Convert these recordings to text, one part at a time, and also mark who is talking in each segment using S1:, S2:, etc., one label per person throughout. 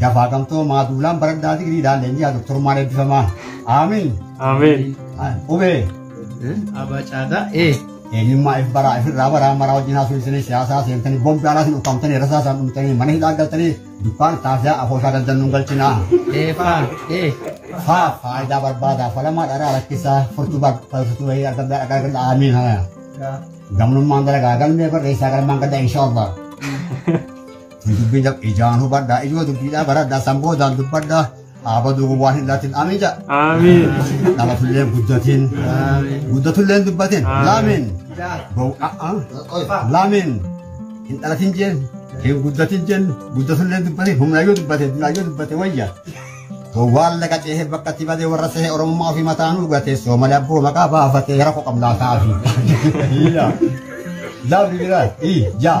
S1: Dafaa
S2: gamtoo
S1: maa duulaan baradhaa digriidhaan leenji'aa doktorummaan eebbifamaa. Aamiin. Ameen.
S3: Qubee.
S1: Abaa
S2: caadaa ee. Eenyummaa
S1: if baraa ifirraa baraa maraa wajjin haasofsiisanii siyaasaa seentanii bombi alaa sin ukkaamtanii rasaa isaan dhumtanii mana hidhaa galtanii dukkaan taafiyaa afooshaa daldannuun galchinaa. Eefaa ee. Faa faayidaa barbaadaa falamaa dharaa rakkisaa furtuu barbaadatu wayii argamdaa dhagaa galla aamiin haya. Gamnummaan dalagaa galmee barreessaa galmaan gadda inshaallah. Dubbiin jab ijaan hubadhaa ijoo dubbiidhaa baradhaa san boodaan dubbadhaa aabaduu gowwaan hin laatin amiin jaa. Amiin.
S3: Dhalatulleen
S1: guddatiin guddatulleen dubbatiin laamiin laamiin hin dhalatin jeen hin guddatin jeen guddatulleen dubbatiin humnaayyoo dubbatee humnaayyoo dubbatee wayya. Gowwaan laga ceehee bakka itti badee warra sehee oromummaa ofii mataa nu gatee soomali abboo maqaa baafatee rakkoo qabnaa ta'afi. Jaa biribiraa ii jaa.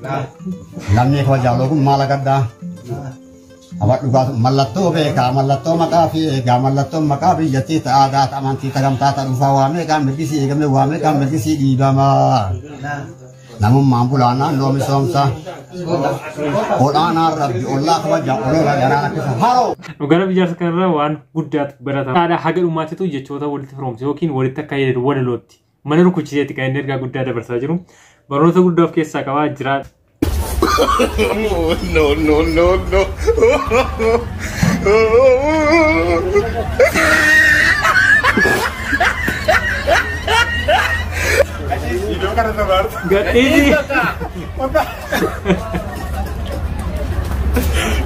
S1: Lammii koo jaaloo kun maal agaddaa? Aba dhugaa mallattoo beekaa mallattoo maqaa fi eegaa mallattoon maqaa biyyattii ta'aa daata amantii tagamtaa ta'aa dhufaa waa meeqaan mirgisii eegamee waa meeqaan mirgisii dhiibamaa. Namummaan bulaa naannoo misoomsaa. Ol'aanaan rabbi ollaa kabajaa olola garaa rakkisa haroo. Gara biyyaas kanarraa
S3: waan guddaatu barata. Haadha haga dhumaatitu jechoota walitti firoomse yookiin walitti akka yeedhu walalootti. Mana rukuchiseeti kan inni ergaa guddaa dabarsaa jiru. Barnoota guddaa of keessaa qabaa jiraa. no,
S4: no, no, no.
S3: Gadhiisi.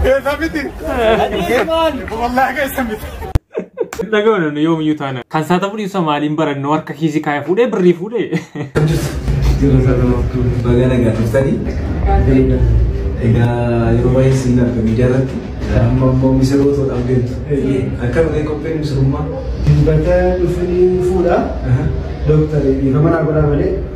S4: Esa miti. Wallahi esa miti. Dhaga'uun
S3: yoomiyyuu taana. Kan isaa ta'uu dhiisa maaliin barannoo harka kiisii kaaya fuudhee birrii fuudhee. Jirra
S5: sana maftuu baga nagaa turtanii. Egaa yeroo baay'ee siin arga miidiyaa irratti. Amma immoo misirroo ta'uudhaaf deemtu. Akka malee qopheen misirummaa. Dilbata
S2: dhufanii fuudha. Dooktar dhiifama naa godhaa malee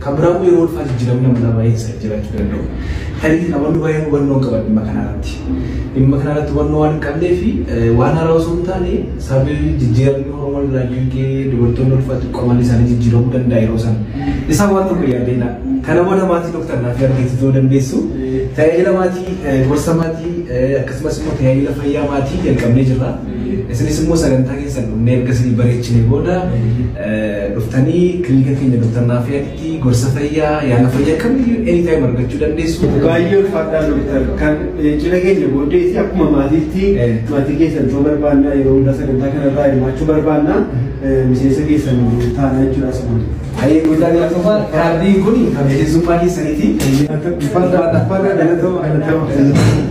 S5: Kan biraa immoo yeroo ulfaa jijjiiramni amalaa baay'een isaanii jiraachuu danda'u. Tarii namoonni baay'een hubannoo hin qaban dhimma kanarratti. Dhimma kanarratti hubannoo waan hin qabnee fi waan haaraa osoo hin taane sababii jijjiiramni hormoon irraa dhiigee dubartoonni ulfaa xiqqoo amalli isaanii jijjiiramuu danda'a yeroo sana. Isaan waan tokko yaaddeedha. Kana booda maatii doktar naaf argite ta'uu dandeessu. Tajaajila maatii, gorsa maatii akkasumas immoo tajaajila fayyaa maatii jalqabnee jirra. Isinis immoo sagantaa keessan dhumnee erga isinii bareechinee booda dhuftanii kilinika keenya Dr. Naafiyaatti gorsa fayyaa yaala fayyaa kamiyyuu anytime argachuu dandeessu. Baay'ee ulfaataa
S2: doktar kan cina keenya booddee isi akkuma maatiitti maatii keessan ta'uu barbaannaa yeroo hundaa sagantaa kanarraa hirmaachuu barbaannaa miseensa keessan taanaa jechuudha asumaan. Ayee guddaa
S5: galatoomaa kaardiin kun kan miseensummaa keessaniiti. Uffata uffata galatoomaa galatoomaa.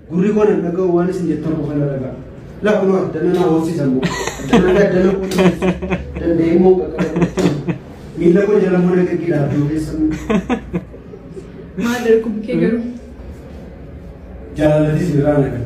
S2: Gurri koo nan dhaga'u waan isin jettan qofa na dhaga'a. Lafa nu addana na hoosisa immoo. Addana addana koo danda'ee immoo qaqqabatu. Miila koo jala mana gaggeedhaa abdii ogeessa. Maal
S6: darbu kee garuu.
S2: Jaalalatis irraa nagaa.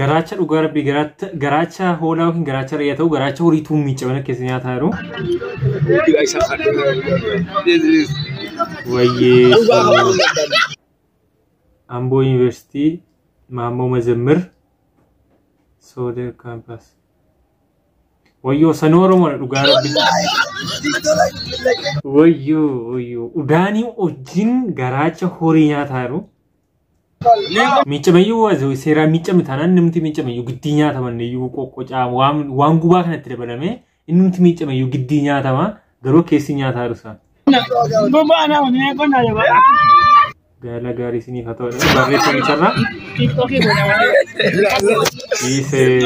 S3: Garaacha dhugaa rabbii garaacha garaacha hoolaa yookiin garaacha re'ee ta'u garaacha horii tuun miicamee akka keessa nyaataa jiru. Gila isa kadhu. This is Wayyee dhugaa kan waan dadhabne. Amboo Yuunivarsiitii Maammoo Mazammir Sooder Kaampaas. Wayyoo sanuu Oromoodha dhugaa rabbii. Wayyoo wayyoo udaanii wajjin garaacha horii nyaataa jiru. Miiccamayyuu wa- seeraan miiccame taanaan namti miiccamayyuu giddii nyaatama inniyyuu qoqqocaa waan waan gubaa kanatti dabalamee innumti miiccamayyuu giddii nyaatama garuu keessi nyaataa rusa. Gaala gaarii isiniif haa ta'u barreeffamicharraa dhiisee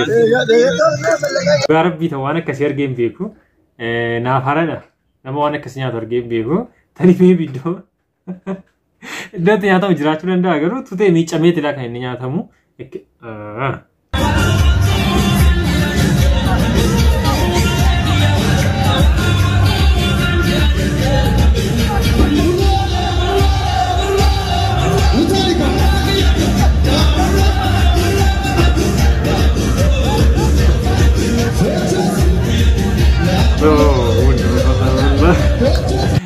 S3: dhugaa rabbii ta'u waan akkasii argee hin beeku Eh, naaf haradha nama waan akkasii nyaatu argee hin beeku tani mee biddoo Iddoo itti nyaatamu jiraachuu danda'a garuu tutee miiccameeti laa kan inni nyaatamu. Ekki- Ah.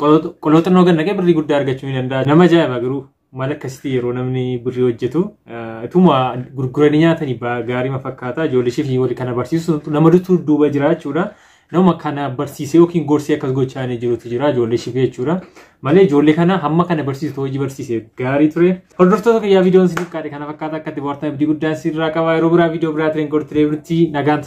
S3: Qolooxannoo gad naqee birrii guddaa argachuu ni danda'a. Nama ajaa'iba garuu maal akkasitti yeroo namni birrii hojjetu ituma gurguranii nyaatanii gaariima fakkaata. Ijoollee ishee fi wali kana barsiisu nama dutu duuba jira jechuudha. Nama kana barsiisee yookiin gorsee akkas gochaa inni jirutu jira ijoollee ishee jechuudha. Malee ijoollee kana hamma kana barsiisu hojii barsiise gaarii ture. Hordoftoota kiyyaa viidiyoon isiniif kaadhe kana fakkaata akkatti bohaartan abdii guddaan sirraa qaba. Yeroo biraa viidiyoo biraa tireen gortiree birti nagaan